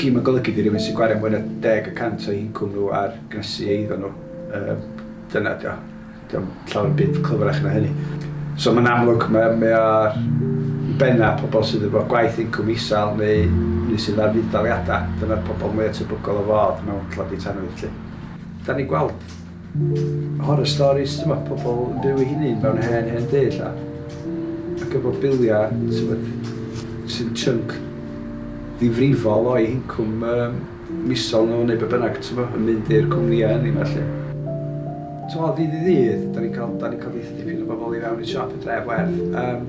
Cyn mae'n golygu di rywun sy'n gwario mwy na deg y cant o'u hincwm nhw ar gynhesu eiddo nhw. Dyna ydy o. Dio ddim llawer byd clyfrach na hynny. So mae'n amlwg, mae mae o ar i benna' pobl sydd efo gwaith incwm isel neu neu sydd ar fudd-daliadau. Dyna'r pobl mwya' tebygol o fod mewn tlodi tanwydd 'lly. Da ni'n gweld Horror stories t'mod pobl yn byw eu hunin mewn hen hen dŷ ella ac efo bilia t'mod sy'n chunk ddifrifol o'u hincwm yym misol nhw neu be bynnag t'mo yn mynd i'r cwmnïau ynni 'ma 'lly. T'mod ddydd i ddydd 'da ni'n ca'l 'da ni'n ca'l dipyn o bobl i fewn i'n siop yn Dref Werdd yym.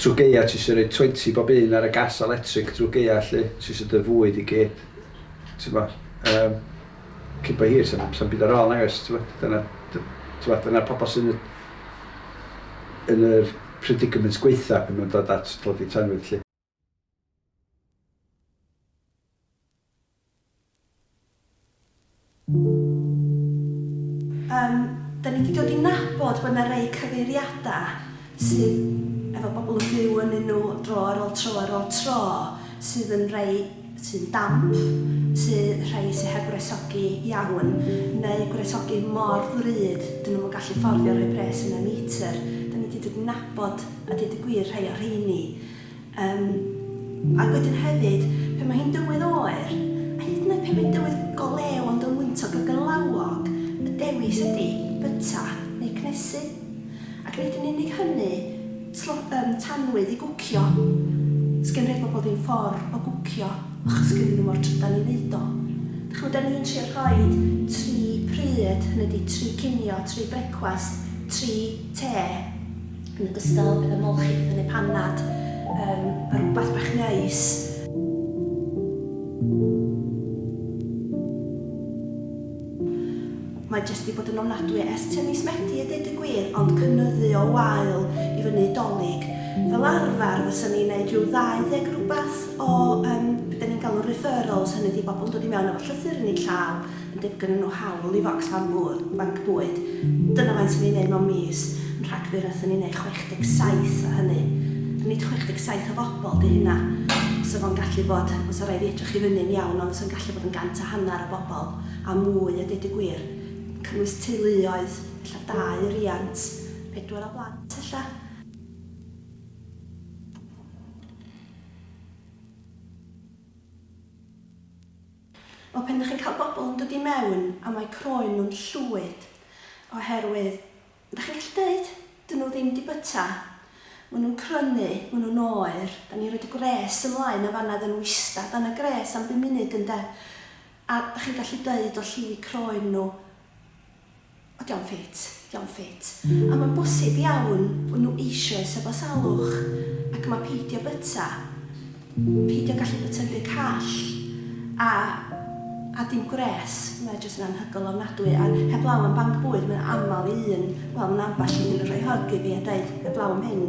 Trw gaea ti isio roid twenty bob un ar y gas electric drw gaea lly, ti isio dy fwyd i gyd, t'bo, yym, cyn bo hir sa'm, sa'm byd ar ôl nagoes, t'bo, dyna, t'bo, dyna pobol sy'n y, yn yr predicament gwaetha pan ma'n dod at dlodi tanwydd lly. Yym, dan ni di dod i nabod bod na rei cyfeiriada sydd efo bobl yn byw ynnyn nhw dro ar ol tro ar ol tro, sydd yn rei sy'n damp, sy rhei sy heb wresogi iawn, neu gwresogi mor ddrud dyn nhw'm yn gallu fforddio rhoi pres yn y meter. Dan ni di dod i nabod a deud y gwir rhei o rheini. Yym, ac wedyn hefyd, pan mae hi'n dywydd oer, a hyd yn oed pan mae'n dywydd go lew ond yn wyntog ac yn lawog, y dewis ydy byta neu cnesu. Ac nid yn unig hynny, tlo- yym, tanwydd i gwcio. Does gen rhai pobl ddim ffordd o gwcio achos gennyn nhw mo'r trydan i wneud o. Dach chi'n gwybod, dan ni'n trio rhoi tri pryd, hynny ydy tri cinio, tri brecwast, tri te. Yn ogystal, bydd ymolchi diddynu panad yn rywbeth bach neis. Mae jyst wedi bod yn ofnadwy o est tua mis Medi a deud y gwir, ond cynyddu o wael i fyny i Dolig. Fel arfer fysen ni'n neud rhyw 20 rywbeth o yym be 'da ni'n galw'n referrals, hynny ydi bobl yn dod i mewn efo llythyr yn eu llaw, yn debyg gynnyn nhw hawl i focslan ŵyl, banc bwyd. Dyna faint o'n ni'n neud mewn mis. Yn Rhagfyr aethon ni'n neud 67 o hynny. A nid 67 o fobl 'di hynna. Fysa fo'n gallu bod, fysa raid fi edrych i fyny'n iawn, ond fysa'n gallu bod yn gant a hanner o bobl a mwy a deud y gwir. Yn cynnwys teuluoedd, ella dau riant, pedwar o blant ella. Wel, pan 'dych chi'n cael bobl yn dod i mewn a mae croen nhw'n llwyd oherwydd, 'dych chi'n gallu deud, 'dyn nhw ddim 'di byta, ma' nhw'n crynu, ma' nhw'n oer, 'dan ni'n rhoid y gwres ymlaen yn fan 'na iddyn nhw ista dan y gwres am bum munud ynde, a 'dych chi'n gallu deud o lliwi croen nhw, O, dio'm ffit, dio'm ffit. A mae'n bosib iawn fod nhw eisoes efo salwch, ac mae peidio byta, peidio gallu byta'n rhy call, a, a dim gwres, mae jyst yn anhygoel ofnadwy, a heblaw am banc bwyd, mae'n aml i un, wel, mae 'na ambell un yn rhoi hug i fi a deud, heblaw am hyn,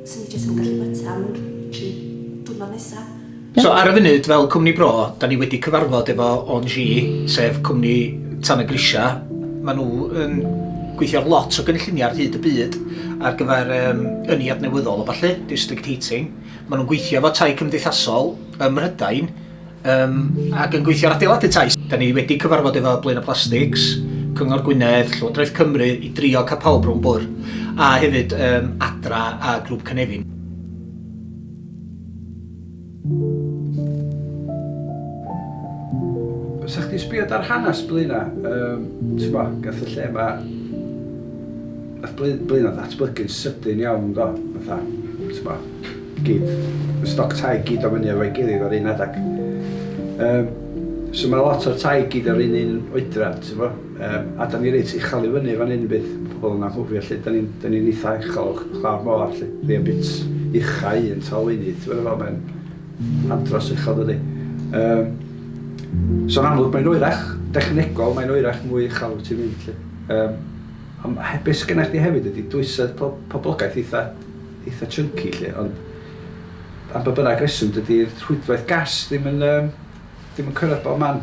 'swn i jyst ddim yn gallu byta am y tri diwrnod nesa. So ar y funud fel cwmni bro, da ni wedi cyfarfod efo ONGi, sef cwmni Tan y Grisiau. Maen nhw yn gweithio ar lot o gynlluniau ar hyd y byd ar gyfer um, ynni adnewyddol a falle, district heating. Maen nhw'n gweithio efo tai cymdeithasol ym Mhrydain um, ac yn gweithio ar adeiladu tai. Da ni wedi cyfarfod efo Blaen y Plastics, Cyngor Gwynedd, Llywodraeth Cymru i drio cael pawb rhwng bwrdd a hefyd um, Adra a Grŵp Cynefin. Os ydych chi'n sbio ar hanes Blaenau, um, ti'n bo, gath y lle yma... Nath Blaenau ddatblygu'n sydyn iawn, do. Fatha, ti'n bo, gyd, y stoc tai gyd o fyny efo'i gilydd o'r un adeg. Um, so mae lot o'r tai gyd o'r un un oedran, ti'n bo. Yym, a 'dan ni reit uchal i fyny fan 'yn, bydd pobl yn anghofio 'lly, 'dan ni'n 'dan ni'n eitha uchel lawr mor 'lly, mae o'n bit uchau un tal un i, ti'n gwbod fel mae'n andros uchel dydi? Yym, so'n amlwg mae'n oerach, dechnegol mae'n oerach mwy uchel wyt ti'n mynd 'lly. Yym, ond he- be' sgynna chdi hefyd ydi dwysedd po- poblogaeth eitha eitha chunky 'lly, ond am ba bynnag reswm dydi'r rhwydwaith gas ddim yn yym ddim yn cyrraedd bob man.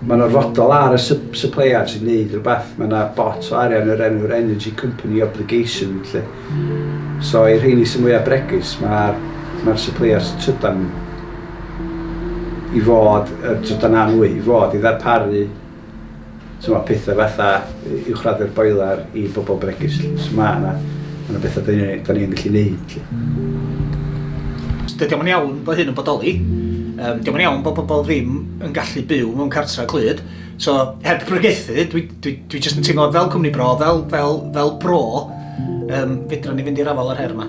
Mae'n orfodol ar y supplier sy'n neud rhywbeth, mae yna bot o arian o'r enw'r energy company obligation lly. So i'r rheini sy'n mwya bregus, mae'r mae'r supplier sy'n trydan i fod, yr trydan na nwy, i fod i ddarparu t'mo' petha fatha uwchraddu'r boiler i bobl bregus lly. So mae yna mae yna betha 'da ni 'da ni yn gallu neud. Dydy o'm yn iawn bod hyn yn bodoli. Um, Dydy o'm yn iawn bod pobl ddim yn gallu byw mewn cartra clyd. So, heb brygethu, dwi, dwi, dwi just yn teimlo fel cwmni bro, fel, fel, fel bro, um, fedrwn ni fynd i'r afal ar her yma.